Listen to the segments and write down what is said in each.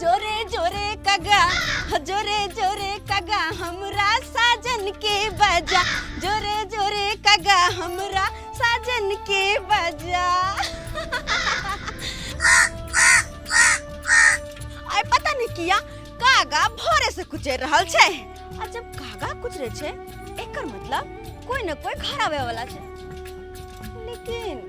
जोरे जोरे कगा जोरे जोरे कगा हमरा साजन के बजा जोरे जोरे कगा हमरा साजन के बजा आय पता नहीं किया कागा भोरे से कुचे रहल छे आ जब कागा कुचरे छे एकर मतलब कोई न कोई घर आवे वाला छे लेकिन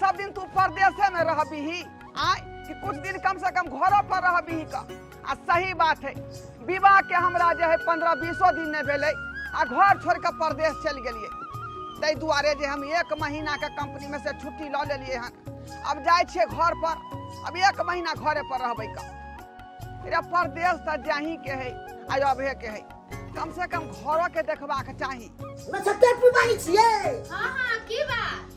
सब दिन तू परदेसे में रहबी ही आय कि कुछ दिन कम से कम घरो पर रहबी ही का आ सही बात है विवाह के हमरा जे है पंद्रह बीसो दिन नहीं भेले आ घर छोड़ के परदेश चल गेलिए ताहि दुआरे जे हम एक महीना के कंपनी में से छुट्टी लऽ लेलिए हन अब जाए छिए घर पर अब एक महीना घरे पर रहबे का अरे परदेश तऽ जाही के है आ अबहे के है कम से कम घरो के देखबाक चाही नक्षत्र पी बानी छियै हाँ हाँ की बात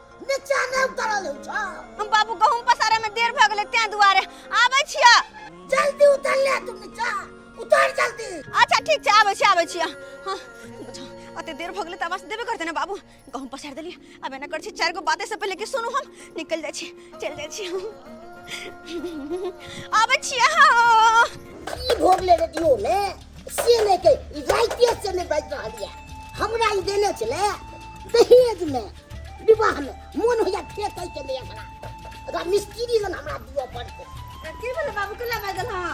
निचा नहि उतरल हो छ हम बाबू गहूम पसारे में देर भ गेले तें दुआरे आबै छिया जल्दी उतर ले तू निचा उतर जल्दी अच्छा ठीक छै आबै छी आबै छिया हाँ, बुझा, अते देर भ गेले त आवाज देबे करते ने बाबू गहूम पसार देली अब एना कर छी चार गो बाते से पहले कि सुनू हम निकल जाइ छी चल जाइ छी हम आबै छिया हाँ। ई भोग ले रही हो ले से नहि के ई राइते से नहि बाजि रहल यऽ हमरा ई देने छलै दहेजमे विवाहमे मोन होइया फेकै के नहि एकरा एकरा मिस्त्री लग हमरा दिअ पड़तै की भेलै बाबू केला बाजल हँ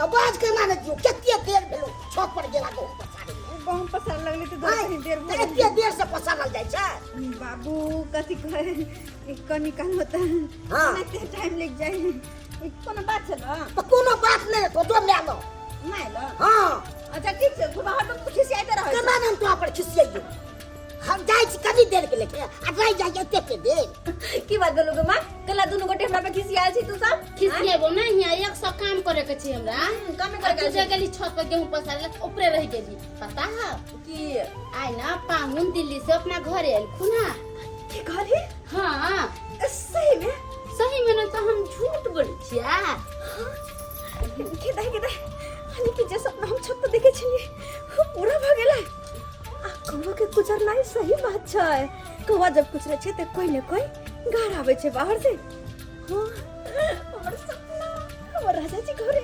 आवाज केना नहि दियौ कते देर भेलो छत पर गेला गहूँ पसारे गहूँ पसार लगले तऽ दस दिन देर भऽ एते देर से पसारल जाइ छै बाबू कथी कहै कनी काल होता हँ टाइम लागि जाइ ई कोनो बात छै ने तो कोनो बात नहीं तो जो मैं लो नहि ने हाँ अच्छा ठीक छै तू बाहर तऽ खिसियाइते रहै केना नाम तो पर खिसियाइयो हम जाय छी कनी देर के लेके आ रह जाय एते के देर छै। की बात भेलौ गे माँ कला दुनू गोटे हमरा पे खिसियाल छी तू सब खिसिएबो ना हिया एक सौ काम करे के छै हमरा कमे आ कर तू जे गेली छत पर गेहूं पसारे ला, ऊपरे रह गेली पता है कि आइ ना पाहुन दिल्ली से अपना घरे एलखुन हा के घरे हाँ सही में सही में ना तो हम झूठ बोलै छियै के दे के दे अने के जे सपना हम छत पर देखे छलिए वो पूरा भ गेलै आ कौवा के गुजरनाइ सही बात छै कौवा जब कुछ रहे छै त कोई ने कोई घर आवे छै बाहर से हाँ हमर सपना हमर राजा जी घरे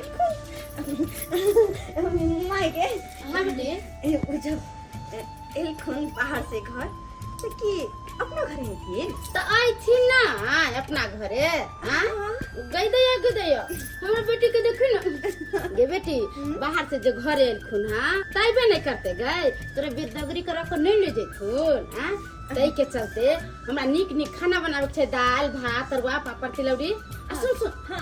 एलखुन माय गे अहाँ बे ए ओ जब ए, एलखुन बाहर से घर तो की अपना घर में थी त आइथिन ना अपना घरे हाँ गई दैया गई दैया हमर बेटी के देखी ना गे बेटी बाहर से जो घरे एलखुन हाँ तैबे नहीं करते गए तोरे बेदगरी कर अपन नहीं ले जैथुन हाँ तै के चलते हमरा नीक नीक खाना बनावे के छै दाल भात तरुआ पापड़ तिलौरी आ सुन सुन हाँ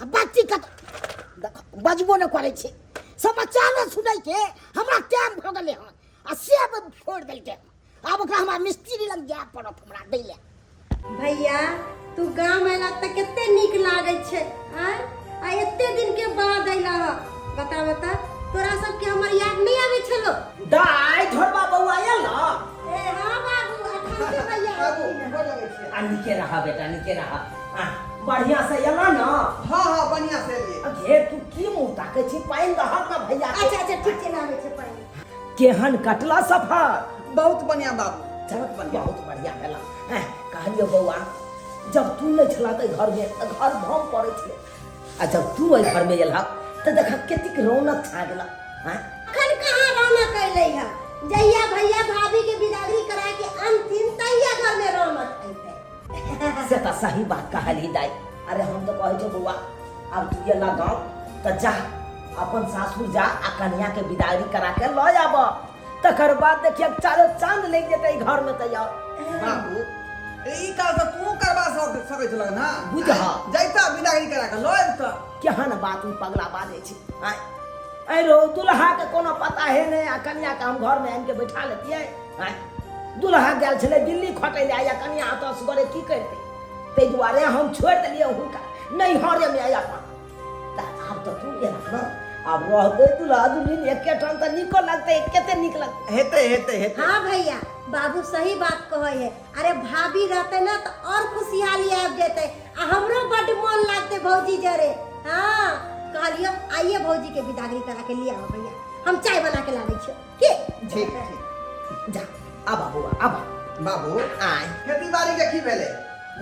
आ बच्ची कत देखो, बजबो नहि करै छै समाचारो सुनै के हमरा टाइम भऽ गेलै हन आ से अब फोड़ देलकै हन। आब ओकरा हमरा मिस्त्री लग जाय पड़त हमरा दै लए भैया तू गाम अयला तऽ कते नीक लागै छै आँय? आ एते दिन के बाद अयला ह बता बता तोरा सबके हमर याद नहि आबै छलो दाय झोरबा बौआ आयल न ए हाँ बाबू अखन के भैया आबू, आ नीके रहा बेटा नीके रहा आ, बढ़िया से एला ना हाँ हाँ बढ़िया से लिए आ, घे तू की मुंह ताके छी पानि दहक ना भैया के। अच्छा अच्छा ठीक छै ना आबै छै पानि केहन कटला सफर बहुत बढ़िया बाबू चल बहुत बढ़िया बहुत बढ़िया भेला हैं, कहलियो बौआ जब तू नहीं छला ते घर में त घर भम पड़े छले आ जब तू एहि घर में एला त देखा केतिक रौनक छा गेला हैं? अखन कहाँ रौनक अयलै है जहिया भैया भाभी के बिदागरी करा के अनथिन तहिया घर में रौनक अयतै से तो सही बात कहली दाई अरे हम तो कहे छे बउआ अब तू ये लगाओ तो जा अपन सासुर जा आ कन्या के विदाई करा के लो आब तकर बाद देखिए चारो चांद लग जेते ई घर में तो यार बाबू ई काल से तू करवा सक सकै छल ना बुझहा। जैता बिदागरी करा के लऽ जैता केहन बात ई पगला बाजे छी आय अरे दुल्हा के कोनो पता है नहीं आ कन्या के हम घर में आन के बैठा लेतिए आँय? दुल्हा गेल छलै दिल्ली खटै लए या कनिया एतऽ सुगरे की करतै ताहि दुआरे हम छोड़ि देलियै हुनका नैहरेमे आइ अपन तऽ आब तऽ तू गेला ने आब रहतै दुल्हा दुल्हिन एके ठाम तऽ नीको लगतै कते नीक लगतै हेतै हेतै हेतै हाँ भैया बाबू सही बात कहे है अरे भाभी रहते ना तो और खुशहाली आब जेते आ हमरो बड मन लागते भौजी जरे हाँ कहलियो आइए भौजी के विदागरी करा के लिए आओ भैया हम चाय बना के लाबे छियो के ठीक ठीक जा आबा बौआ आबा बाबू आय खेती बाड़ी के की भेलै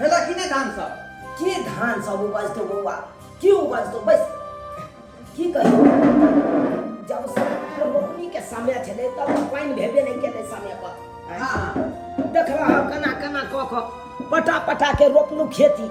भेला कि नहि धान सब के धान सब उपजतो बौआ के उपजतो बस की कहियो जब से रोपनी के समय छलै तब तऽ पानि भेबे नहि केलै समय पर हँ देखला कना कना कऽ कऽ पटा पटा के रोपलू खेती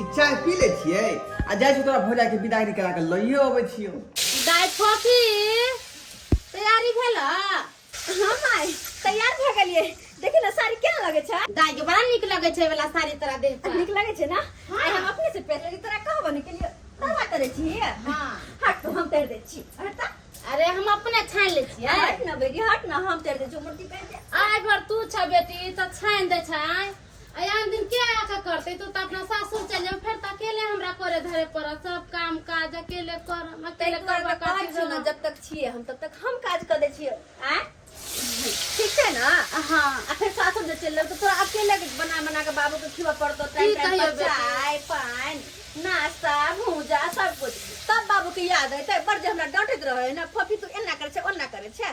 ई चाय पी ले छिए आ जाय छी तोरा भौजा के विदाई करा के लइए अबै छियो दाय फोफी तैयारी भेल हां माय तैयार भ गेलिए देखि ना साड़ी केना लगे छै दाय के बड़ा नीक लगे छै वाला साड़ी तोरा देह पर नीक लगे छै ना हाँ। आय हम अपने से पहन लेली तोरा कहबो ने के लिए तोरा करे छी हां हट तो हम कर दे छी हट अरे हम अपने छान ले छी हट ना बेटी हट ना हम कर दे जो मूर्ति पहन दे आय भर तू छ बेटी त छान दे छै अयान दिन के आके करते तू तो अपना सासुर चल जाओ फिर तो अकेले हमरा करे धरे पर सब काम काज अकेले कर हम अकेले तैके करबा बाद कहै करती छी न, रहब। जब तक छिए हम तब तक हम काज क दै छिए आ ठीक छै ना हाँ आ फिर सासुर जे चलि जाउ तऽ तोरा अकेले के बना बना के बाबू के खिबऽ पड़तो की टाइम टाइम कहियौ पर बेटी? चाय पानि नाश्ता भूजा सब कुछ तब बाबू के याद अयतै बड़ जे हमरा डांटैत रहै ना फफी तू एना करै छै ओना करै छै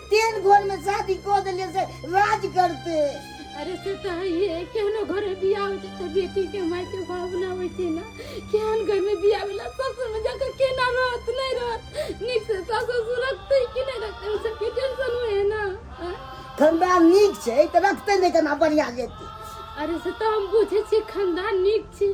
तेहन घर में शादी कऽ देलियै से राज करते अरे से तो है ये केहनो घर में बियाह हो जाता बेटी के माई के भावना होई थी ना केहन घर में बियाह होला ससुर में जाकर केना रहत नहीं रहत निक से सास ससुर रखते कि नहीं रखते उ सब के टेंशन हुए है ना हाँ? ठंडा नीक छै तऽ रखते नहि केना बढ़िया जेतै अरे से तो हम बुझे छी खानदान निक छी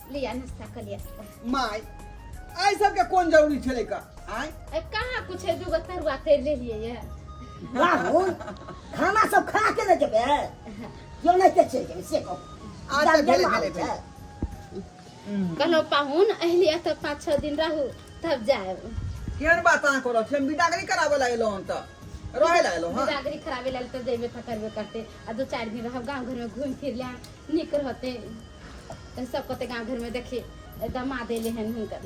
लिया नाश्ता कर लिया माय आई सब के कोन जरूरी छले का आय ए, कहाँ कुछ है दूगो तरुआ तेल ले लिए ये बाबू खाना सब खा के ले जेबे यो नहीं के चल जेबे से को अच्छा, भेले, भेले, भेले। कहलो पाहुन अहलिया तो पाँच छः दिन रहू तब जाए केन बात आ करो हम बिदागरी करावे ला एलो हम त रहे ला एलो हां बिदागरी खराबे लाल तो जेबे खतरबे करते आ दो चार दिन रहब गांव घर में घूम फिर ले नीक रहतै तऽ सब कहतै गाँव घरमे देखी दमाद एलै हन हुनकर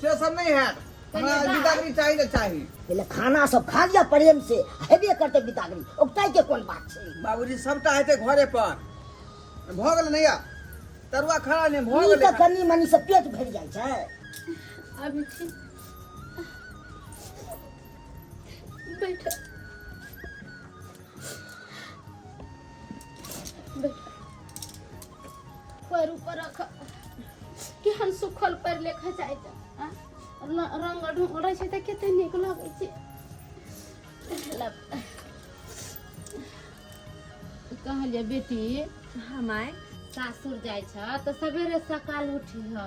से सब नहि हैत हमरा बिदागरी चाही तऽ चाही पहिले खाना सब खा लिया प्रेम से हेबे करते बिदागरी ओकटाई के कोन बात छै बाबूजी सबटा हेतै घरे पर भऽ गेलै नैया तरुआ खाना नहि भऽ गेलै कनी मनी से पेट भरि जाइ छै अभी छी बैठ पैर ऊपर रख केहन सुखल पैर लेखा जाइ छै आ? न- रंग ढंग रहै छै तऽ कते नीक लगै छै लब। कहलिए बेटी हमाय सासुर जाइ छ तऽ सवेरे सकाल उठी ह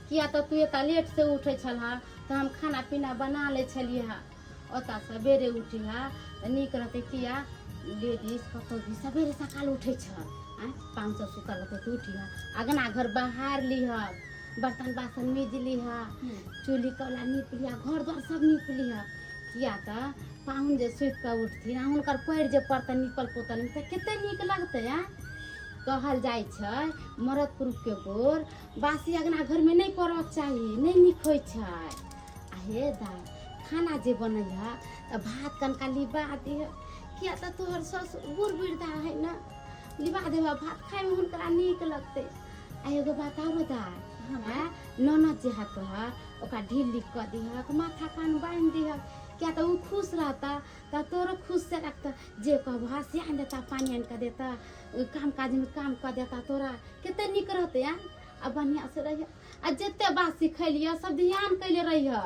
किया तऽ तू एतऽ लेट से उठै छल तऽ हम खाना पीना बना लै छलियै हँ ओतऽ सबेरे उठिहऽ तऽ नीक रहतै किया लेडीज कतहु भी सबेरे सकाल उठै छऽ आँय पाँच सए सुतल रहतै तऽ उठिहऽ अगना घर बहार लिहऽ बर्तन बासन मीज लिहऽ चूल्ही कौला नीप लिहऽ घर द्वार सब नीप लिहऽ किया तऽ पाहुन जे सुति कऽ उठथिन आ हुनकर पैर जे पड़तै नीपल पोतल तऽ कते नीक लगतै आँय कहल जाइ छै मरद पुरुषके गोर बासी अगना घरमे नहि पड़क चाही नहि नीक होइ छै हे दा खाना जे बनै है तऽ भात कनका लिबा दे किया तऽ तोहर ससुर बूढ़ वृद्धा है ने लिबा दे भात खायमे हुनकरा नीक लगतै आ एगो बात आरो दा है ननद जे है तोहर ओकरा ढील लिख कऽ दिहक माथा कान बान्हि दिहक किया तऽ ओ खुश रहता तऽ तोरो खुश से रखता जे कहबह से आनि देता पानि आनि कऽ देता ओ काम काजमे काम कऽ देता तोरा कते नीक रहतै आ आ बढ़िआँ से रहिए आ जते बात सिखलिए सब ध्यान कैले रही है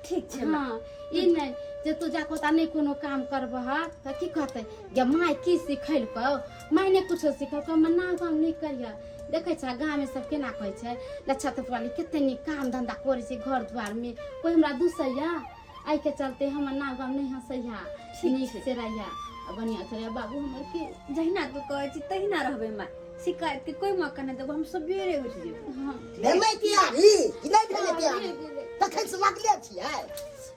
ठीक छै माँ हाँ ई नहीं जे तू जाके ओता नहीं कोनो काम करबह है तो की कहते जे माय की सिखैलको माय ने कुछो सिखैलको मैं ना काम नहीं करिए देखे छ गाँव में सब केना कहै छै लच्छा तोपवाली कते नीक काम धंधा करे छै घर द्वार में कोई हमरा दूसैया आई के चलते हमर नाम गाम नहीं हंसैया ठीक नीक छै। से रहिया आ बढ़िया से रहिया बाबू हमर के जहिना तू कहै छी तहिना रहबै माय शिकायत के कोई मौका नहि देबो हम सबेरे उठि जेबै हाँ भेलै प्यारी कि नहि भेलै प्यारी तखन से लगले छियै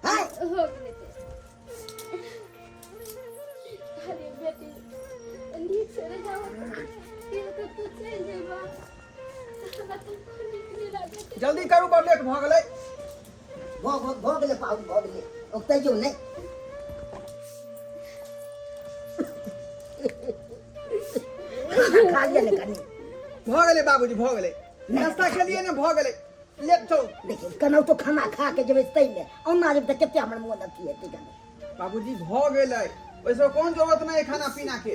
हैं हो गेलै तो। अरे बेटी नीक से रहिया तू चलि जेबा जल्दी करू बड़ लेट भऽ गेलै भऽ भऽ भऽ गेलै पाहुन भऽ गेलै ओतै जो नहि खा लिअ ने कनी भऽ गेलै बाबूजी भऽ गेलै नास्ता खेलियै ने भऽ गेलै लेट छौ देखिन केनाहु तो खाना खा के जेबै ताहिमे ओना जेबै तऽ कतेक हमर मोन अथी हेतै कनी बाबूजी भऽ गेलै ओहिसँ कोन जरूरत नहि है खाना पीना के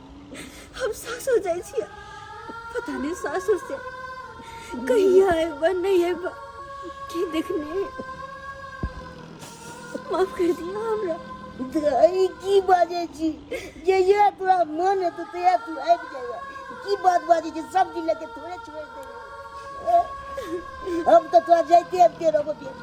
हम सासुर जाइ छियै पता नहि सासुर से कहिया अयबा नहि अयबा के देखने माफ कर दिया हमरा दाई की बाजे छी जे ये तोरा मन है तो तया तू आबि जाएगा की बात बाजे छी सब दिन लेके थोड़े छोड़ दे अब तो तोरा जाइते आबिते रहबो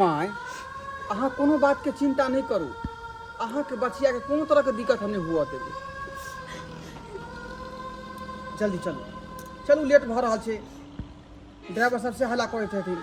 माय अहाँ कोनो बातके चिन्ता नहि करू अहाँके बचियाके कोनो तरहके दिक्कत हम नहि हुअ देबै जल्दी चलू चलू लेट भऽ रहल छै ड्राइवर सबसे हल्ला करैत हेथिन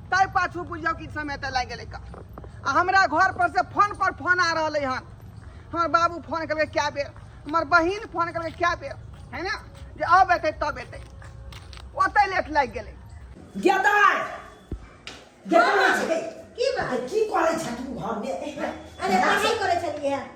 ताहि पाछू बुझियौ कि समय तऽ लागि गेलै का आ हमरा घर पर से फोन पर फोन आ रहलै हन हमर बाबू फोन केलकै कए बेर हमर बहिन फोन केलकै कए बेर है ने जे अब एतै तब एतै ओतै लेट लागि गेलै गेदाय गेदाय छै की बात की करै छै तू घर में अरे पढ़ाई करे छलिए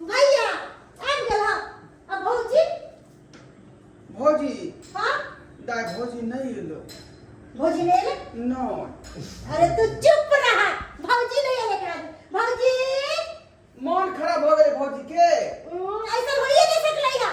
भैया आबि गेल हँ आ भौजी भौजी हाँ दाय भौजी नहीं एलो भौजी नहीं एले नो अरे तू चुप रहा भौजी नहीं एले कहा दे। भौजी मन खराब हो गए भौजी के उम, ऐसा होइए नहीं सकलै है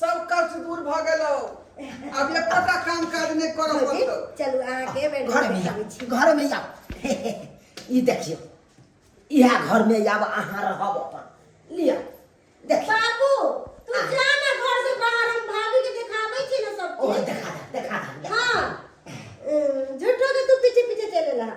सब कष्ट दूर भ गेलो अब एकोटा काम काज नहीं कर भौजी पड़तो चलू अहाँके बेड घर में आब घर में आब ई देखियो इहा घर में आब अहाँ रहब अपन लिया देखियो बाबू तू जा ना घर से बाहर हम भाभी के देखाबै छी ना सब ओह देखा दे देखा दे देखा दे। हां झूठो के तू पीछे पीछे चले रहा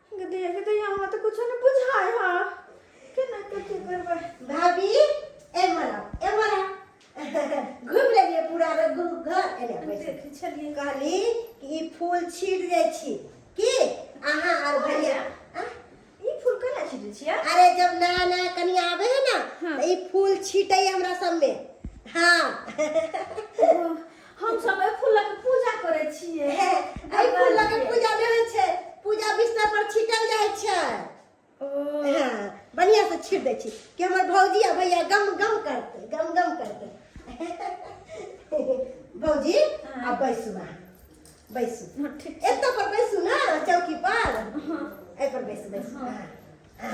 गदया गदया हमरा तऽ कुछो नहि बुझाय हा केना के की करबै भाभी ए मरा ए मरा घूम लेलिए पूरा घर एने बैठे छलिए कहली कि ई फूल छीट जाय छी की अहाँ आर भैया ई फूल केना छीटै छियै अरे जब नया नया कनी आबे है ना हाँ। तो ई फूल छीटै हमरा सब में हाँ हम सब ए फूल के पूजा करे छिए हे एहि फूल लऽ के पूजा नहि होइ छै पूजा बिस्तर पर छिटल जाइ छै हाँ, बढ़िया से छीट दै छी कि हमर भौजी आ भैया गम गम करते गम गम करते भौजी आ बैसू अहाँ बैसू हाँ, ठीक एत पर बैसू ना चौकी पर एहि पर बैसू बैसू हाँ, हाँ।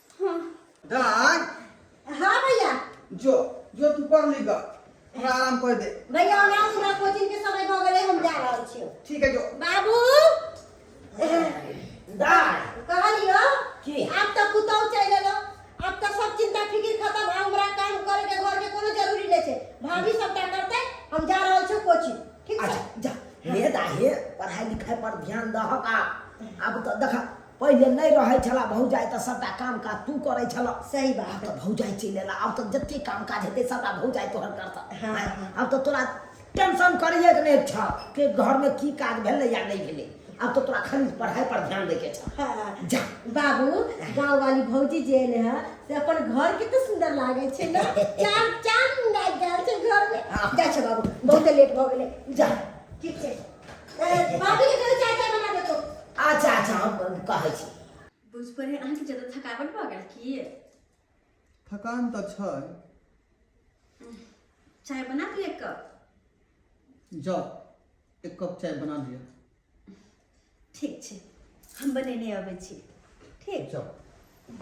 हाँ दान हाँ भैया जो जो तू पढ़ ली गा हमरा आराम कर दे भैया हमरा हमरा कोचिंग के समय भ गेलै हम जा रहल छियो ठीक है जो बाबू दाय कहलियो की? आब तऽ पुतौ चलि एलो आब तऽ सब चिंता फिकिर खत्म आब हमरा काम करे के घर के कोनो जरूरी नहि छै भाभी सबटा करतै हम जा रहल छियो कोचिंग ठीक छै अच्छा जा हे दाय हे पढ़ाई लिखाई पर ध्यान दहक आ अब तो देखा पहिले नहि रहै छला भौजाइ तऽ सभटा काम काज तू करै छला सही बात आब तऽ भौजाइ चलि एला आब तऽ जते काम काज हेतै सभटा भौजाइ तोहर करतह हाँ, आँय, हाँ। आब तऽ तोरा टेंशन करैए के नहि छ के घरमे की काज भेलै या नहि भेलै आब तऽ तोरा खाली पढ़ाइ पर ध्यान दैके छ हाँ। जा बाबू गाँव वाली भौजी जे एले है से अपन घर के तो सुंदर लागे छे ना चार चांद लाग गया छे घर में हाँ। जा छे बाबू बहुत लेट हो गेले जा ठीक छे बाबू के कहे चाय चाय बना दे तो अच्छा अच्छा हम कहै छी बुझ पड़े अहाँ के ज्यादा थकावट भऽ गेल की थकान तऽ छै चाय बना दू एक कप जाउ एक कप चाय बना लिअ ठीक छै हम बनेने अबै छी ठीक जाउ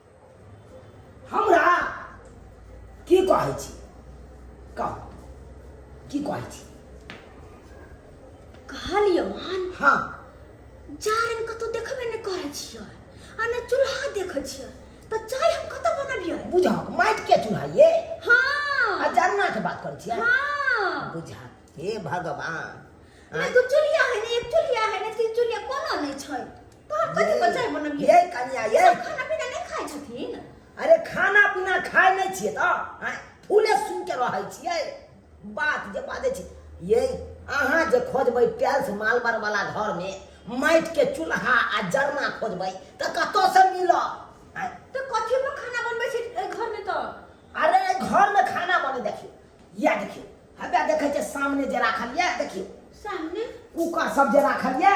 हमरा की कहै छी कह की कहै छी कहलियो हन हाँ जारन कतौ देखबे नहि करै छियै आ ने चूल्हा देखै छियै तऽ चाय हम कतऽ बनबियै बुझा माटि के चूल्हा ये आ हाँ जरना के बात करै छियै हाँ बुझा हे भगवान ने दू चूल्हा है ने एक चूल्हा है ने तीन चूल्हा कोनो नहि छै कथी पर चाय बनबियै ये कन्या ये सब खाना पीना नहीं खाए छथिन अरे खाना पीना खाए नहीं छियै तऽ आँय, फूले सुन के रहै छियै बात जे बाजै छी ये अहाँ जे खोजबै टाइल्स मालबर वाला घर में माटि के चूल्हा आ जरना खोजबै तऽ कतौ से मिलत आँय, तो कथी पर खाना बनबै छी ए, घर में तो अरे एहि घर में खाना बने देखियो या देखियो हबे देखे छे सामने जे राखल ये देखियो सामने कुकर सब जे राखल ये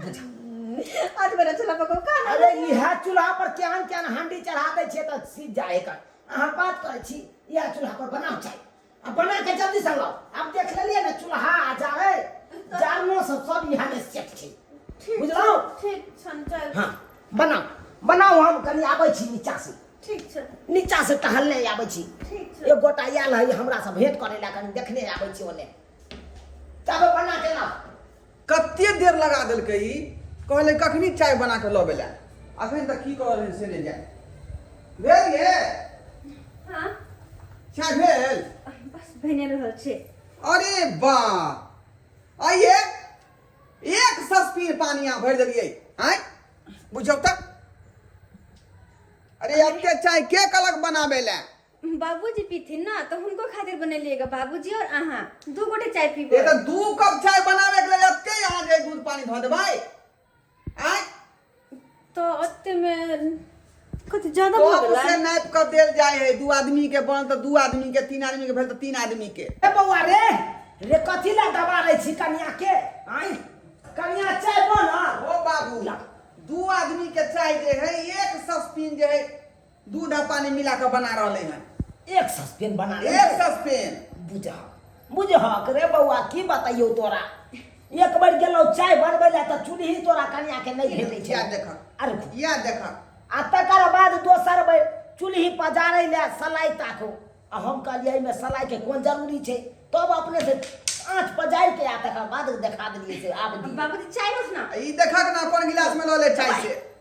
आज बड़ा चला पको का अरे इहा चूल्हा पर केहन केहन हांडी चढ़ा दै छियै तऽ सीज जाए एकर अहाँ बात करै छी इहा चूल्हा पर बनाउ चाय आ बना के जल्दी से लाउ आब देख लेलियै ने चूल्हा आ जाड़े जाड़नो सब सब इहा में सेट छै ठीक बुझलहुँ? ठीक छन चल हाँ बनाउ बनाउ हम कनि आबै छी नीचा से ठीक छन नीचा से टहलने आबै छी ठीक छन एक गोटा आयल है हमरा से भेंट करे ला कनि देखने आबै छी ओने तब बना के लाउ कते देर लगा देलकै ई कहले कखनी चाय बना के लबे ला अखन तक की कहल से ले जाए भेल ये हाँ चाय भेल बस बने रहल छे अरे बा आइए एक सस्पीन पानी यहाँ भर दिलिए आय बुझब तक अरे अत्ते चाय के कलक बनाबे ला बाबूजी पीथिन ना तो हुनको खातिर बनेलिएगा बाबूजी और अहाँ दू गोटे चाय पीबो ये तो दू कप चाय बनावे के लिए अत्ते यहाँ जे दूध पानी धो देबै आय तो ओते में कुछ ज्यादा तो भगला से नाप कर देल जाए है दू आदमी के बन तो दू आदमी के तीन आदमी के भेल तो तीन आदमी के ए बौआ रे रे कथी ला दबा रहे छी कनिया के आई कनिया चाय बना ओ बाबू दू आदमी के चाय जे है एक सस्पिन जे है दूध आ पानी मिला के बना रहले हैं एक सस्पेन बना ले एक सस्पेन बुझा बुझहक रे बौआ की बताइयो तोरा एक बार गेलो चाय बनबै ला तऽ चूल्ही तोरा कनिया के नहीं भेटै छै याद देखा अरे खु- याद देखा आ तकर बाद दोसर बेर चूल्ही पजारै ले सलाई ताको आ हम कहलियै एहिमे सलाई के कोन जरूरी छै तब अपने से आँच पजारि के आ तकर बाद देखा देलियै से आब दियौ। बाबूजी चाय रोज ना ई देखा के ना कौन गिलास में लो ले चाय से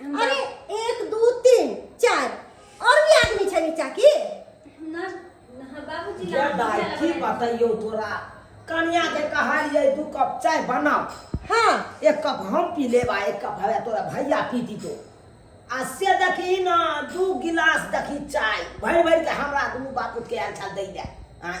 अरे एक दू तीन चार और भी आदमी छै नीचा की ना हाँ, बाबूजी या लाल दाई की की बतैयो तोरा कन्या के कहलिए दू कप चाय बनाओ हाँ एक कप हम पी लेबा एक कप हवे तोरा भैया पी दी तो आ से देखी ना दू गिलास देखी चाय भरि भरि के हमरा दुनू बापू के आयल छल दै ले आँय।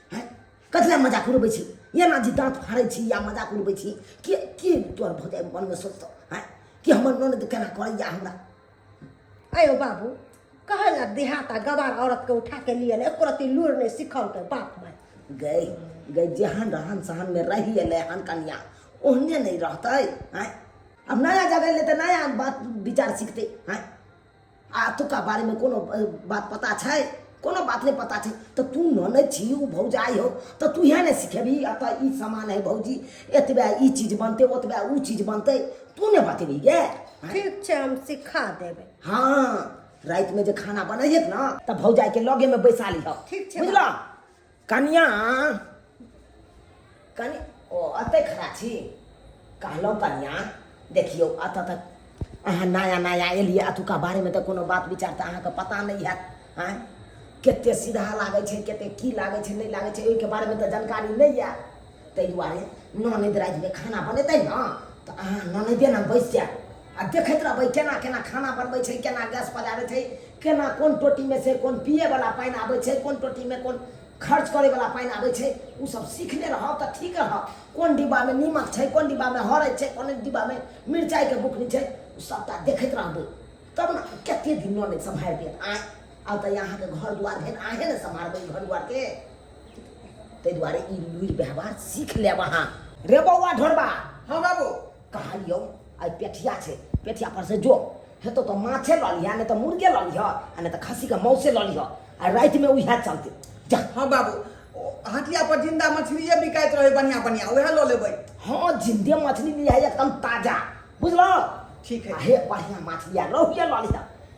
हैं कथी लए मजाक उड़बै छी एना जे दाँत फाड़ै छी या मजाक उड़बै छी के के तोहर भऽ जाए मनमे सोचतौ हैं कि हमर ननद केना करैया हमरा आयो बाबू कहै लए देहात आ गवार औरतके उठा के लिए ले एको रत्ती लूर नहि सिखलकै बाप माय गई गई जेहन रहन सहनमे रहि एलै हन कनिया ओहने नहि रहतै हैं अब नया जगह ले तऽ नया बात विचार सीखतै हैं आ एतुका बारेमे कोनो अ, बात पता छै कोनो बात नहि पता छै तऽ तू ननद छी ओ भौजाइ हो तऽ तू इएह ने सिखेबही एतऽ ई सामान है भौजी एतबे ई चीज बनतै ओतबे ओ चीज बनतै तू ने बतेबही गे आँय? ठीक छै हम सिखा देबै हाँ रातिमे जे खाना बनैहक ने तऽ भौजाइके लगेमे बैसा लिहऽ ठीक छै, बुझलऽ कनिया कनि ओ अते खड़ा छी कहलहुँ कनिया देखियौ एतऽ तक अहाँ नया नया एलियै एतुका बारेमे तऽ कोनो बात विचार तऽ अहाँके पता नहि हैत आँय कतेक सीधा लागै छै कतेक की लागै छै नहि लागै छै ओहिके बारेमे तऽ जानकारी नहि यए ताहि दुआरे ननद रातिमे खाना बनेतै ने तऽ अहाँ ननदे ने बैस जायब आ देखैत रहबै केना केना खाना बनबै छै केना गैस पजारै छै केना कोन टोटीमे से कोन पियैवला पानि आबै छै कोन टोटीमे कोन खर्च करैवला पानि आबै छै ओसब सीखने रहब तऽ ठीक रहब कोन डिब्बामे नीमक छै कोन डिब्बामे हरैत छै कोन डिब्बामे मिरचाइके बुकनी छै ओ सबटा देखैत रहबै तब ने कतेक दिन ननद सम्हारि देत आँय आब तऽ अहाँके घर दुआर भेल अहेँ ने सम्हारबै घर दुआरके ताहि दुआरे ई लुरि व्यवहार सीख लेब अहाँ रे बौआ ढोरबा हाँ बाबू कहलियौ आइ पेठिया छै पेठिया पर से जो हेतौ तऽ माछे लऽ लिह नहि तऽ मुर्गे लऽ लिह आ नहि तऽ खस्सीके मौसे लऽ लिह आ रातिमे उएह चलतै जा हाँ बाबू ओ हटिया पर जिंदा मछलिए बिकाइत रहे बढ़िया बढ़िया वह लो लेबै हाँ जिंदे मछली लिह एकदम ताजा बुझलौ ठीक है। आ हे बढ़िया माछ लिह रहुए लऽ लिह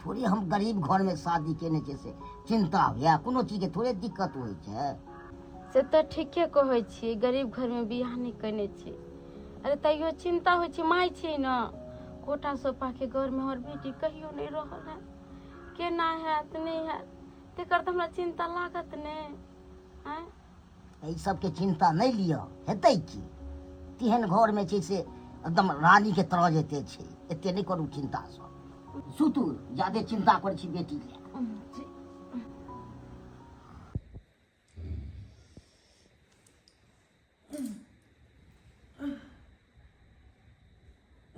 थोड़े हम गरीब घर में शादी केने छै से चिन्ता होइए कोनो चीजके थोड़े दिक्कत होइ छै से तऽ ठीके कहै छियै गरीब घरमे बियाह नहि केने छी अरे तैयो चिन्ता होइ छै माय छियै ने कोटा सोपाके घरमे हमर बेटी कहियो नहि रहल है केना हैत नहि हैत तेकर तऽ हमरा चिन्ता लागत ने आँय एहि सबके चिन्ता नहि लिअ हेतै की तेहन घरमे छै से एकदम रानीके तरह जेते छै एते नहि करू चिन्ता सब सुतू जादे चिन्ता करै छी बेटी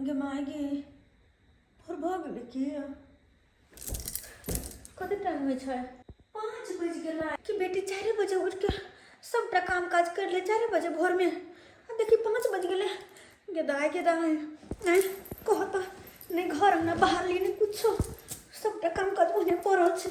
गमाएगी और भाग लेके कते टाइम होइ छै पाँच बजि गेल कि बेटी चारि बजे उठिके सबटा काम काज करि ले चारि बजे भोरमे आ देखी पाँच बजि गेलै गेदाय गेदाय नहि कह तऽ नहि घर अङ्गना बाहर ली नहि किछो सबटा काम काज ओहने पड़ल छै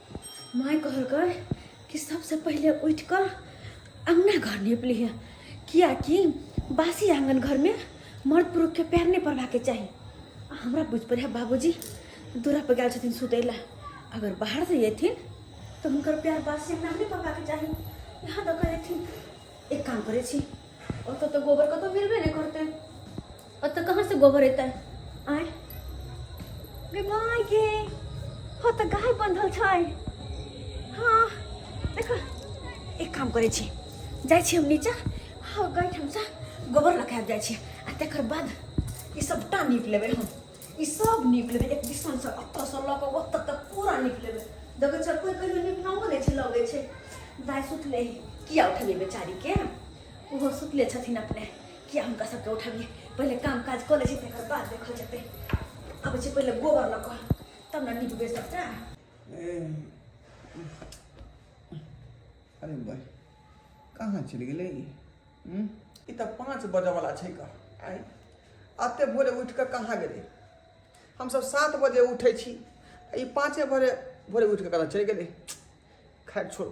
माय कहलकै कि सबसे पहिले उठि कऽ अङ्गना घर नीप लिहे किएकि बासी आङ्गन घरमे मर्द पुरुषके पैर नहि पड़बाके चाही आ हमरा बुझि पड़ै बाबूजी दूरापर गेल छथिन सुतै लए अगर बाहरसँ अयथिन तऽ हुनकर पैर बासी अङ्गना नहि पड़बाके चाही यहाँ दऽ कऽ अयथिन एक काम करै छी ओतऽ तऽ गोबर कतहु मिलबे नहि करतै ओतऽ कहाँ से गोबर एतै आय गे माय गे हो तऽ गाय बंधल छै हाँ देख एक काम करै छी जाइ छी हम नीचा हाँ गाय ठामसँ गोबर लऽ के आबि जाइ छी आ तकर बाद ई सबटा नीप लेबै हम ई सब नीप लेबै एक दिसनसँ ओतऽसँ लऽ कऽ ओतऽ तक पूरा नीप लेबै देखै छै कोइ कहियो नीपनाओ नहि छै लगै छै दाय सुतले किया उठेबै बेचारीके ओहो सुतले छथिन अपने किया हुनका सबके उठबियै पहिले काम काज कऽ लै छै तकर बाद देखल जेतै आबै छै पहिले गोबर लऽ कऽ तब ने निपबै सबटा अरे भाई कहाँ चलि गेलै ई हूँ? ई तऽ पाँच बजयवला छै का आँय एते भोरे उठि कऽ कहाँ गेलै हमसभ सात बजे उठै छी आ ई पाँचे भोरे भोरे उठि कऽ कतऽ चलि गेलै खैर छोड़ू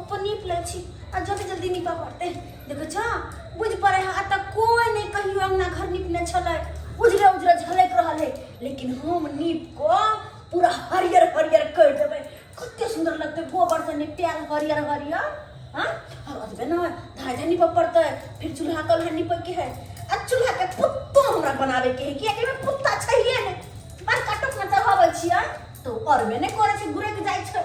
अपन नीप लै छी आ जल्दी जल्दी नीपऽ पड़तै देखै छऽ बुझ पड़े है एतऽ कोई नहीं कहियो अंगना घर नीपने छलै उजरे उजरे झलक रहल है लेकिन हम नीप को पूरा हरियर हरियर कर देबै कते सुंदर लगते गोबर से निपटायल हरियर हरियर हाँ और अजबे ना धाय धाय नीपऽ पड़तै फिर चूल्हा कल है नीपे के है आ चूल्हा के पुत्तो हमरा बनाबे के है कियाकि हमरा पुत्ता छैहे ने बस कटक में चढ़ाबै छियै तो और में ने करे छै घुरे के जाइ छै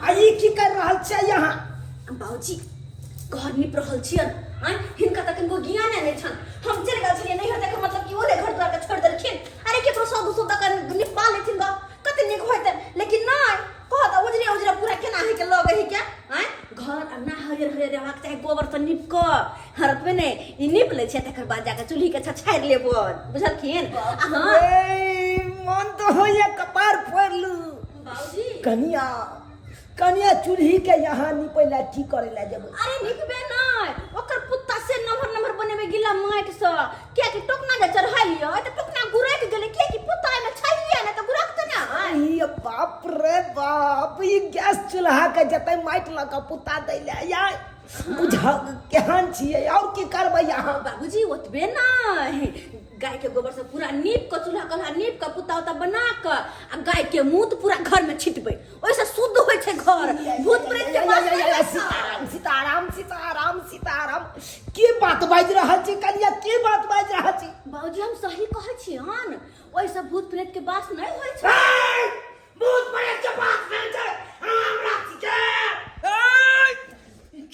आ ई की कर रहल छै यहाँ बाबूजी घर निप रहल छियन आय हिनका तक इनको ज्ञान नहि छन हम चल गेल छलिए नहीं हते मतलब कि ओले घर द्वार के छोड़ देलखिन अरे केकरो सौ दू सौ तक निपा लेथिन गा कते नीक होते लेकिन नहीं कहत उजरे उजरे पूरा केना है के लगे है क्या आय घर अंगना हरियर हरियर रहबाक चाही गोबर से नीप क हरतमे ने ई नीप ले छै तकर बाद जाके चूल्ही के छछाड़ लेबो बुझलखिन आ हाँ ए, मन तो होइए कपार फोड़ लू कनिया कनिया चूल्ही के यहाँ निपे ला की करे ला जब अरे निकबे नै ओकर पुत्ता से नम्हर नम्हर बनेबे गिला माटि सँ किया कि टोकना जे चढ़ालियो तऽ टोकना गुरक गेलै किया कि पुत्ता एमे छलिए ने तऽ गुरक तऽ ना है अरे बाप रे बाप ई गैस चूल्हा के जते माटि लऽ कऽ पुता दै ले या बुझा केहन छियै और की करबै यहाँ बाबूजी ओतबे नै गाय के गोबर से पूरा नीप के चूल्हा कल्हा नीप के पुता उता बना के आ गाय के मूत पूरा घर में छिटबै ओइसे शुद्ध होइ छै घर भूत प्रेत के बात नहि करब। सीताराम सीताराम सीताराम सीताराम के बात बाजि रहल छी कनिया के बात बाजि रहल छी बाबूजी हम सही कहै छी हन ओइसे भूत प्रेत के बात नहि होइ छै ए, भूत प्रेत के बात नहि छै राम राम के ए,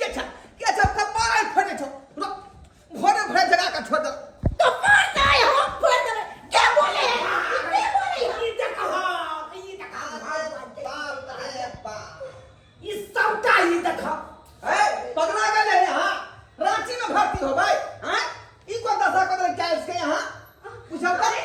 के छ के छ कपाल फटे छौ रुक भोरे भोरे जगा के छोड़ दे तो मार नहीं हम फोड़ देबे के बोले के बोले ई देखा ई देखा बाप रे बाप ई सबटा ई देखा ए पगला गेले रे हां रांची में भर्ती हो भाई हां ई को दशा को दे क्या इसके यहां पूछल करे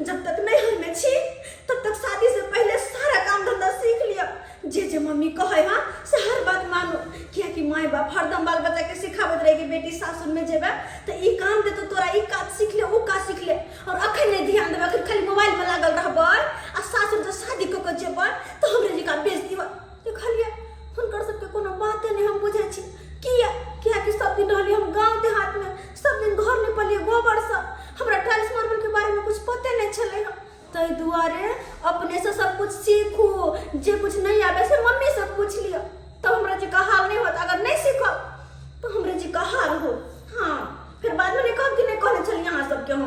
जब तक नैहर में छी तब तक शादी से पहले सारा काम धंधा सीख लिया जे जे मम्मी कहे हाँ से हर बात मानो किया कि माए बाप हरदम बाल बच्चा के सिखावत रहे कि बेटी सासुर में जेबे तो ई काम दे तो तोरा ई काज सीख ले वो काज सीख ले और अखन नहीं ध्यान देबे अखन खाली मोबाइल में लागल रहबे आ सासुर जो शादी कऽ के जेबे तो हमरे जिका बेइज्जती हो देखलियै हुनकर सबके कोनो बाते नहि हम बुझै छी किया कियाकि सब दिन रहलियै हम गाँव देहातमे सब दिन घर निपलियै गोबरसँ हमरा टाइल्स मार्बलके बारेमे कुछ पते नहि छलै हँ ताहि दुआरे अपनेसँ सब कुछ सीखू जे कुछ नहि आबै से मम्मीसँ पूछ लिअ तब हमरा जे कहाल नहि होत अगर नहि सीखब तऽ हमरा जे कहाल होत हँ फेर बादमे नहि कहब कि नहि कहने छलियै अहाँ सबके हम